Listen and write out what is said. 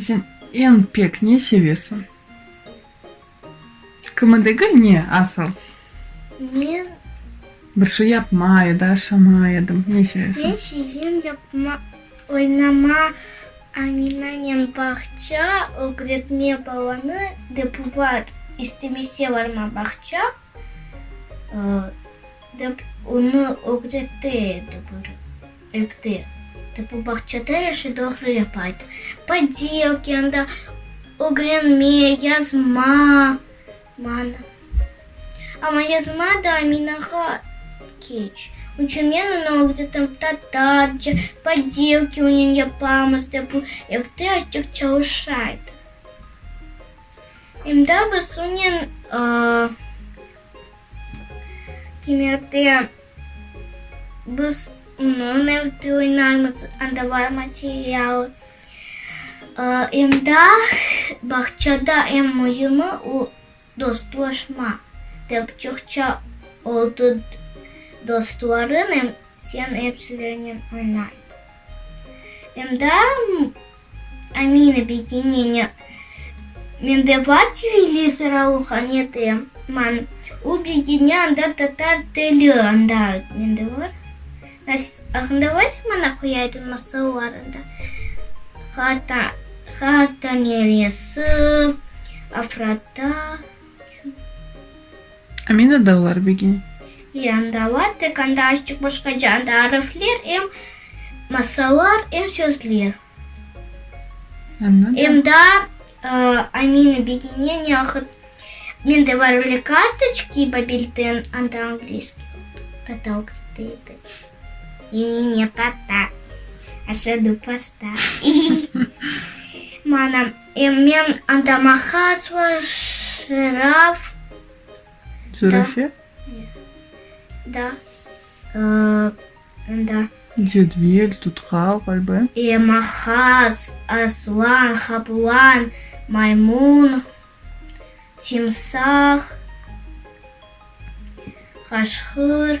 Sen eñ pek ne sevesiñ? Kimi degil, ne, asıl? Men. Bir şey yapma ya da aşama edim. Ne sevesiñ? Men sevem yapma, oynama, Aminanen bağça, ögretme balanı, dep var, istemese barma bağça, dep onı ögretti edi bir. Etti. Tapu bağçada yaşı doğru yapaydı. Padi okyanda ögrenme, yazma, mana. Amma yazma da Aminağa keç. Onıñ içün men onı ögretem tatarca, padi öküvnen yapamız, dep o evde açıq çalışaydı. Em de biz onen kimyada. Biz onıñ evde oynaymız, anda bar material. Endi bağçada eñ müimi o, dostlaşma. Dep çoqça oldı dostlarım, em sen epsilenen oynay. Endi. Amin ob'yedineniya. Mende bar televizor alıhanede, man ob'yediniya anda tatar tili anda mende bar. Aqında vaysa mana qoyaydım masallar anda Hata Hata neresi, Afrata. Amina dağlar begi. Yan dağlar tek anda açıq başqaca anda arifler em masallar em sözler. Anladım. Em da Amina begine ne ahıt men de var öyle kartoçki babilden anda angliski totalks deydi. Meni ne tata aşadı pasta. Mana. Men antamahas va şıraf. Zürafe? Da. Da. Cedvil, tutqal, ğalba. Mahas, aslan, qaplan, maymun, timsah, qaşqır.